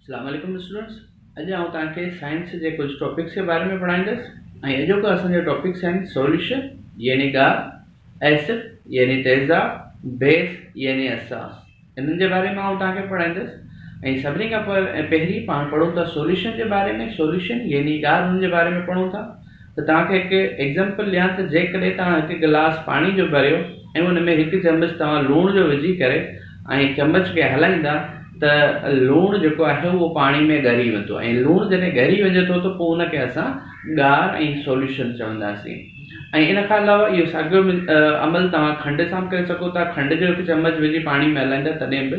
اسلام عليڪم اسٽوڊنٽس اڄ آئون توهان کي سائنس جي ڪجهه ٽاپڪس جي باري ۾ پڙهائيندس ۽ اڄوڪو اسان جا ٽاپڪس آهن سوليوشن يعني ڳاهه ايسڊ يعني تيزاب بيس يعني اساس انهن جي باري ۾ آئون توهان کي پڙهائيندس ۽ سڀني کان پهرين پاڻ پڙهون ٿا سوليوشن جي باري ۾ سوليوشن يعني ڳاهه هن جي باري ۾ پڙهون ٿا ته توهان کي هڪ ايگزيمپل ڏيان ته جيڪڏهن توهان هڪ گلاس پاڻي جو ڀريو ۽ ان ۾ هڪ چمچ توهان لوڻ جو وجهي ڪري ۽ چمچ کي هلائيندا ته لوڻ جيڪو آهي اهو پاڻي ۾ ڳري ويندو ۽ لوڻ جڏهن ڳري وڃي ٿو ته پوء ان کي اسان ڳار ۽ سوليوشن چونداسين ۽ ان کان علاوه اهو ساڳيو عمل توهان کنڊ سان به ڪري سگهو ٿا کنڊ جو هڪ چمچ وجهي پاڻي ۾ هلائيندا تڏهن به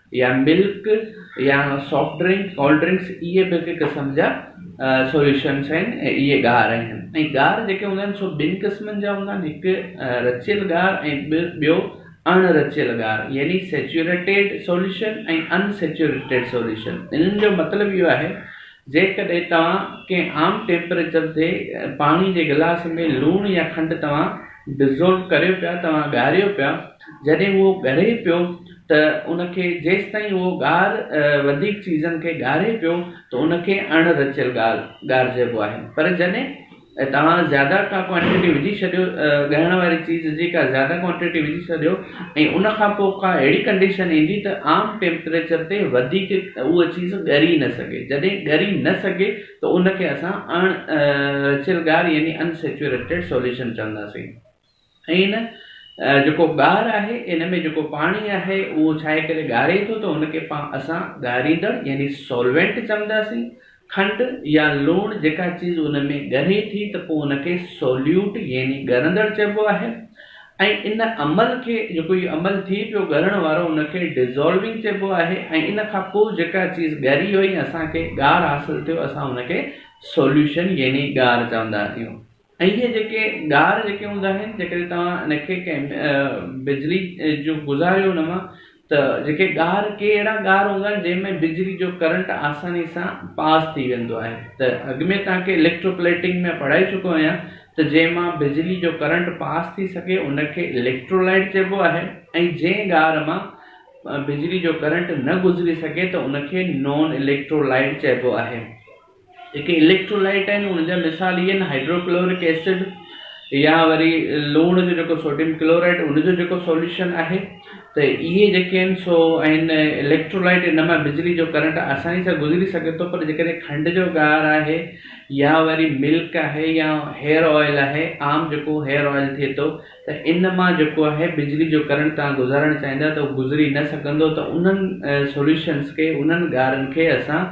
يا ملڪ يا سافٽ ڊرنڪ ڪولڊ ڊرنڪس اهي به هڪ قسم جا سوليوشنس آهن ۽ اهي ڳار آهن ۽ ڳار جيڪي هوندا آهن سو ٻن قسمن جا هوندا آهن هڪ رچيل ڳار ۽ ٻيو اڻ رچيل ڳار يعني saturated solution ۽ unsaturated solution انهن جو مطلب اهو آهي جيڪڏهن توهان ڪنهن عام ٽيمپريچر تي پاڻي جي گلاس ۾ لوڻ يا کنڊ توهان ڊزولو ڪريو پيا توهان ڳاريو پيا جڏهن اهو ڳڙي پيو ته ان کي جيستائين اهو ڳار وڌيڪ چيزن کي ڳاري پيو ته ان کي اڻ رچيل ڳار ڳارجئبو آهي پر جڏهن توهان زياده ڪا ڪوانٽيٽي وجهي ڇڏيو ڳائڻ واري چيز جي ڪا زياده ڪوانٽيٽي وجهي ڇڏيو ۽ ان کان پوء ڪا اهڙي ڪنڊيشن ايندي ته عام ٽيمپريچر تي وڌيڪ اهو چيز ڳري نه سگهي جڏهن ڳري نه سگهي ته ان کي اسان اڻ رچيل ڳار يعني Unsaturated Solution چونداسين. ائين نه، جيڪو ڳار آهي، ان ۾ جيڪو پاڻي آهي، اهو ڇاهي ڪري ڳاري ٿو ته ان کي اسان ڳاريندڙ يعني سولوينٽ چونداسين. کنڊ يا لوڻ جيڪا چيز ان ۾ ڳري ٿي ته پوء ان کي سوليوٽ يعني ڳرندڙ چئبو آهي ۽ ان عمل کي جيڪو هي عمل ٿي پيو ڳرڻ وارو ان کي Dissolving چئبو آهي ۽ ان کان پوء جيڪا چيز ڳري وئي اسان کي ڳار حاصل ٿيو اسان ان کي سوليوشن يعني ڳار چوندا آهيون. ۽ اهي جيڪي ڳار جيڪي هوندا آهن جيڪڏهن توهان ان کي ڪنهن بجلي جو گذاريو ان مان ته جيڪي ڳار ڪي اهڙا ڳار هوندا آهن جنهن ۾ بجلي جو ڪرنٽ آساني سان پاس ٿي ويندو آهي ته اڳ ۾ توهان کي اليڪٽرو پليٽنگ ۾ پڙهائي چڪو آهيان ته جنهن مان بجلي جو ڪرنٽ پاس ٿي سگهي ان کي اليڪٽرولائيٽ چئبو آهي ۽ جنهن ڳار مان بجلي جو ڪرنٽ نه گذري سگهي ته ان کي نون اليڪٽرولائيٽ چئبو آهي جيڪي اليڪٽرولائٽ آهن ان جا مثال اهي آهن هائڊروڪلورڪ ايسڊ يا وري لوڻ جو جيڪو سوڊيم ڪلورائڊ ان جو جيڪو سوليوشن آهي ته اهي جيڪي آهن سو آهن اليڪٽرولائٽ ان مان بجلي جو ڪرنٽ آساني سان گذري سگهي ٿو پر جيڪڏهن کنڊ جو ڳار آهي يا وري ملڪ آهي يا هيئر آئل آهي عام جيڪو هيئر آئل ٿئي ٿو ته ان مان جيڪو آهي بجلي جو ڪرنٽ تان گذارڻ چاهيندا ته گذري نه سگهندو ته انهن سوليوشنس کي انهن ڳارن کي اسان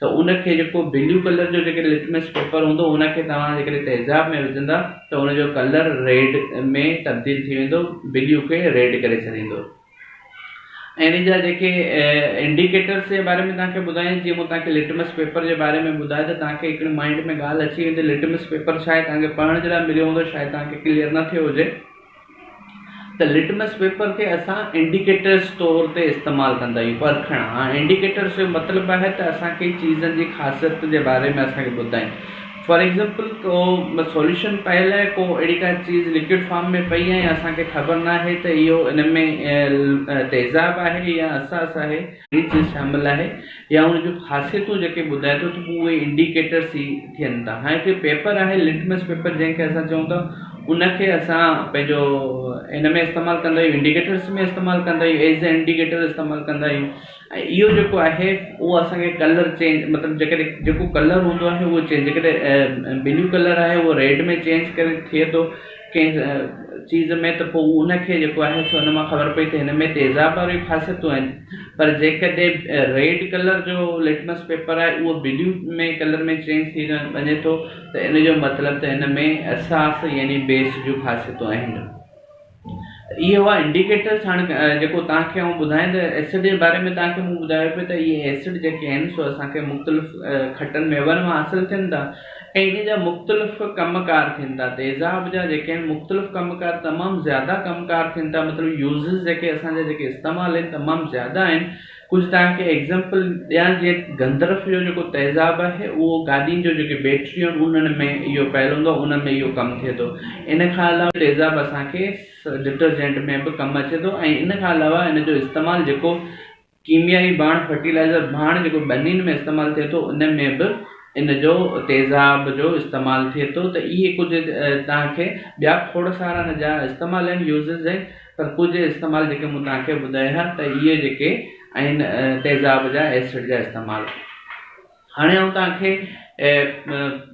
ته ان کي جيڪو بليو ڪلر جو جيڪڏهن لٽمس پيپر هوندو ان کي توهان جيڪڏهن تيزاب ۾ وجهندا ته ان جو ڪلر ريڊ ۾ تبديل ٿي ويندو بليو کي ريڊ ڪري ڇڏيندو ۽ ان جا جيڪي انڊيڪيٽرس جي باري ۾ توهان کي ٻڌايم جيئن مون توهان کي لٽمس پيپر جي باري ۾ ٻڌايو ته توهان کي هڪڙي مائنڊ ۾ ڳالهه اچي ويندي لٽمس پيپر ڇا آهي توهان کي پڙهڻ جي لاء مليو هوندو شايد توهان کي ڪليئر نه ٿيو هجي ته لٽمس پيپر کي اسان انڊيڪيٽرز طور تي استعمال ڪندا آهيون پرکڻ هاڻ انڊيڪيٽرز جو مطلب آهي ته اسان کي چيزن جي خاصيت جي باري ۾ اسان کي ٻڌائين فار ايگزامپل ڪو سوليوشن پيل آهي ڪو اهڙي ڪا چيز لڪوڊ فارم ۾ پئي آهي اسان کي خبر ناهي ته اهو ان ۾ تيزاب آهي يا اساس آهي ڪنهن چيز شامل آهي يا ان جون خاصيتون جيڪي ٻڌائي ٿو ته پوء اهي انڊيڪيٽرس ئي ٿين ٿا. هاڻي هڪڙي پيپر آهي لٽمس پيپر جنهن کي اسان چئون ٿا ان کي اسان پنهنجو ان ۾ استعمال ڪندا آهيون انڊيڪيٽرس ۾ استعمال ڪندا آهيون ايز اي انڊيڪيٽر استعمال ڪندا آهيون ۽ اهو جيڪو آهي اهو اسانکي ڪلر چينج مطلب جيڪڏهن جيڪو ڪلر هوندو آهي اهو چينج جيڪڏهن بلو ڪلر آهي اهو ريڊ ۾ چينج ڪري ٿئي ٿو ڪنهن چيز ۾ ته پوء ان کي جيڪو آهي سو ان مان خبر پئي ته هن ۾ تيزاب واريون خاصيتون آهن پر جيڪڏهن ريڊ ڪلر جو لٽمس پيپر آهي اهو بليو ۾ ڪلر ۾ چينج ٿي وڃي ٿو ته ان جو مطلب ته ان ۾ اساس يعني بيس جون خاصيتون آهن اهي هئا انڊيڪيٽرس هاڻ جيڪو توهان کي آئون ٻڌايان ته ايسڊ جي باري ۾ توهان کي مون ٻڌايو پيو ته اهي ايسڊ جيڪي آهن سو اسان کي مختلف کٽن ميون مان حاصل ٿين ٿا ۽ انهن جا مختلف ڪم ڪار ٿين ٿا تيزاب جا جيڪي آهن مختلف ڪم ڪار تمام زياده ڪم ڪار ٿين ٿا مطلب يوزز جيڪي اسان جا جيڪي استعمال آهن تمام زياده آهن ڪجهه توهان کي ايگزامپل ڏيان جيئن گندرف جو جيڪو تيزاب آهي اهو گاڏين جو جيڪي بيٽريون آهن انهن ۾ اهو پيل هوندو آهي انهن ۾ اهو ڪم ٿئي ٿو ان کان علاوه تيزاب اسان کي ڊٽرجنٽ ۾ به ڪم اچي ٿو ۽ ان کان علاوه ان جو استعمال جيڪو ڪيميائي ڀاڻ، فرٽيلائيزر ڀاڻ، جيڪو ٻنين ۾ استعمال ٿئي ٿو ان ۾ به ان جو تيزاب جو استعمال ٿئي ٿو ته اهي ڪجهه توهان کي ٻيا کوڙ سارا ان جا استعمال آهن يوزز آهن پر ڪجهه استعمال جيڪي مون توهان کي ٻڌايا ته اهي جيڪي آهن تيزاب جا ايسڊ جا استعمال هاڻي آئون توهان کي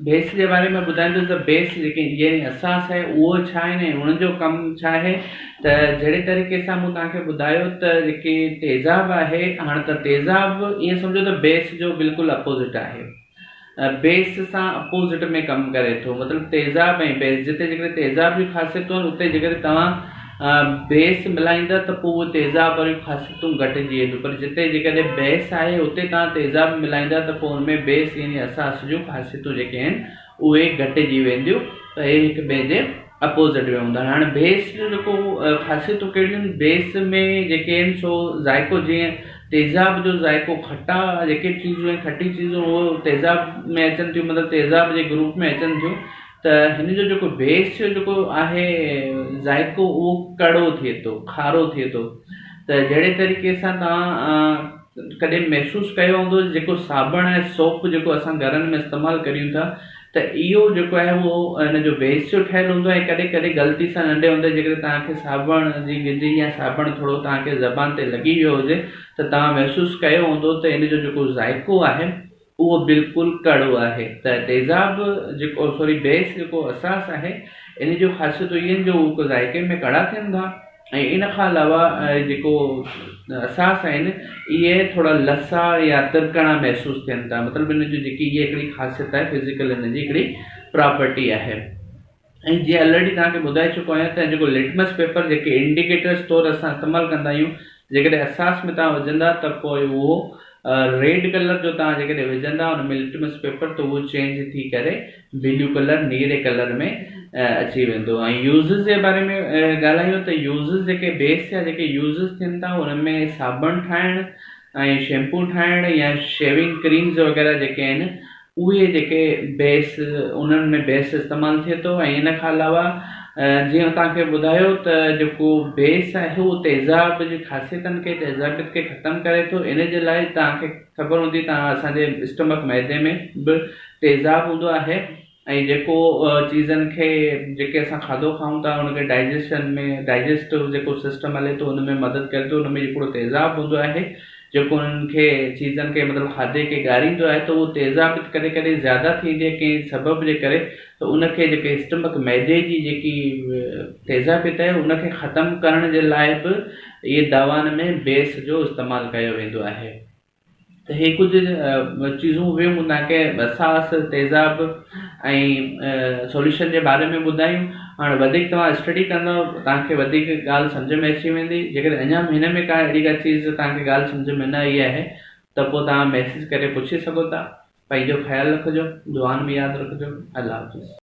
بيس جي باري ۾ ٻڌائيندس ته بيس جيڪي انجنيئرنگ اساس آهي اهو ڇا آهن ۽ انهن جو ڪم ڇا آهي ته جهڙي طريقي سان مون توهان کي ٻڌايو ته جيڪي تيزاب آهي هاڻ ته تيزاب ائين سمجهو ته بيس جو بلڪل اپوزٽ آهي بيس سان اپوزٽ ۾ ڪم ڪري ٿو مطلب تيزاب ۽ بيس جتي جيڪڏهن تيزاب جون خاصيتون آهن اتي جيڪڏهن توهان بحث ملهائيندا ته پوء اهي تيزاب واريون خاصيتون گهٽجي وينديون پر جتي جيڪڏهن بحث آهي اتي توهان تيزاب ملهائيندا ته پوء ان ۾ بيس يعني اساس جون خاصيتون جيڪي آهن اهي گهٽجي وينديون ته اهي هڪ ٻئي جي اپوزٽ ۾ هوندا هاڻي بيس جو جيڪو خاصيتون ڪهڙيون آهن بيس ۾ جيڪي آهن سو ذائقو جيئن تيزاب جو ذائقو کٽا جيڪي چيزون کٽي چيزون تيزاب ۾ اچن ٿيون مطلب تيزاب جي گروپ ۾ اچن ٿيون ته هن جو جيڪو بيس جو جيڪو آهي ذائقو اهو ڪڙو ٿئي ٿو کارو ٿئي ٿو ته جهڙي طريقي سان تان ڪڏهن محسوس ڪيو هوندو جيڪو صابڻ ۽ سوپ جيڪو اسان گهرن ۾ استعمال ڪريون ٿا ته اهو جيڪو آهي اهو هن جو بيس جو ٺهيل هوندو آهي ڪڏهن ڪڏهن غلطي سان ننڍي هوندي جي ڪڏهن تان کي صابڻ جي گجي يا صابڻ ٿورو تان کي زبان تي لڳي ويو هجي ته تان محسوس ڪيو هوندو ته هن جو جيڪو ذائقو آهي اهو بلڪل ڪڙو آهي ته تيزاب جيڪو سوري بيس جيڪو اساس آهي ان جون خاصيتون اهي آهن جو هو هڪ ذائقي ۾ ڪڙا ٿين ٿا ۽ ان کان علاوه جيڪو اساس آهن اهي ٿورا لسا يا ترڪڻا محسوس ٿين ٿا مطلب ان جي جيڪي اهي هڪڙي خاصيت آهي فزيڪل ان جي هڪڙي پراپرٽي آهي ۽ جيئن الريڊي توهان کي ٻڌائي چڪو آهيان ته جيڪو لٽمس پيپر جيڪي انڊيڪيٽرز طور اسان استعمال ڪندا آهيون جيڪڏهن احساس ۾ توهان وجهندا ته پوء اهو ريڊ ڪلر جو توهان جيڪڏهن وجهندا ان ۾ لٽمس پيپر ته اهو چينج ٿي ڪري بليو ڪلر نيري ڪلر ۾ اچي ويندو ۽ يوزز جي باري ۾ ڳالهايون ته يوزز جيڪي بيس جا جيڪي يوزز ٿين ٿا انهن ۾ صابڻ ٺاهڻ ۽ شيمپو ٺاهڻ يا شيوينگ ڪريمز وغيره جيڪي آهن اهي جيڪي بيس انهن ۾ بيس استعمال ٿئي ٿو ۽ ان کان علاوه جيئن توهان کي ٻڌايو ته جيڪو بيس آهي اهو تيزاب جي خاصيتن کي تيزابيت کي ختم ڪري ٿو ان جي لاء توهان کي خبر هوندي ته اسان جي اسٽمڪ معدي ۾ به تيزاب هوندو آهي ۽ جيڪو چيزن کي جيڪي اسان کاڌو کائون ٿا ان کي ڊائجيشن ۾ ڊائجيسٽو جيڪو سسٽم هلي ٿو ان ۾ مدد ڪري ٿو ان ۾ هڪڙو تيزاب هوندو آهي جيڪو انهن کي چيزن کي مطلب کاڌي کي ڳاريندو آهي ته اهو تيزاب ڪڏهن ڪڏهن زياده ٿي ويندي آهي ڪنهن سبب جي ڪري ته ان کي جيڪي اسٽمڪ معدي جي جيڪي تيزابيت آهي ان کي ختم ڪرڻ جي لاء به اهي دوائن ۾ بيس جو استعمال ڪيو ويندو آهي ته هي ڪجهه چيزون هيون هوندا آهن ڪي ساس تيزاب ۽ سوليوشن جي باري ۾ ٻڌايون هاڻي وڌيڪ توهان اسٽڊي ڪندو توهانکي وڌيڪ ڳالهه سمجھ ۾ اچي ويندي جيڪڏهن اڃا به هن ۾ ڪا اهڙي ڪا چيز توهانکي ڳالهه سمجھ ۾ نه آئي آهي ته پوء توهان ميسيج ڪري پڇي سگهو ٿا پنهنجو خيال رکجو دعائن ۾ ياد رکجو الله حافظ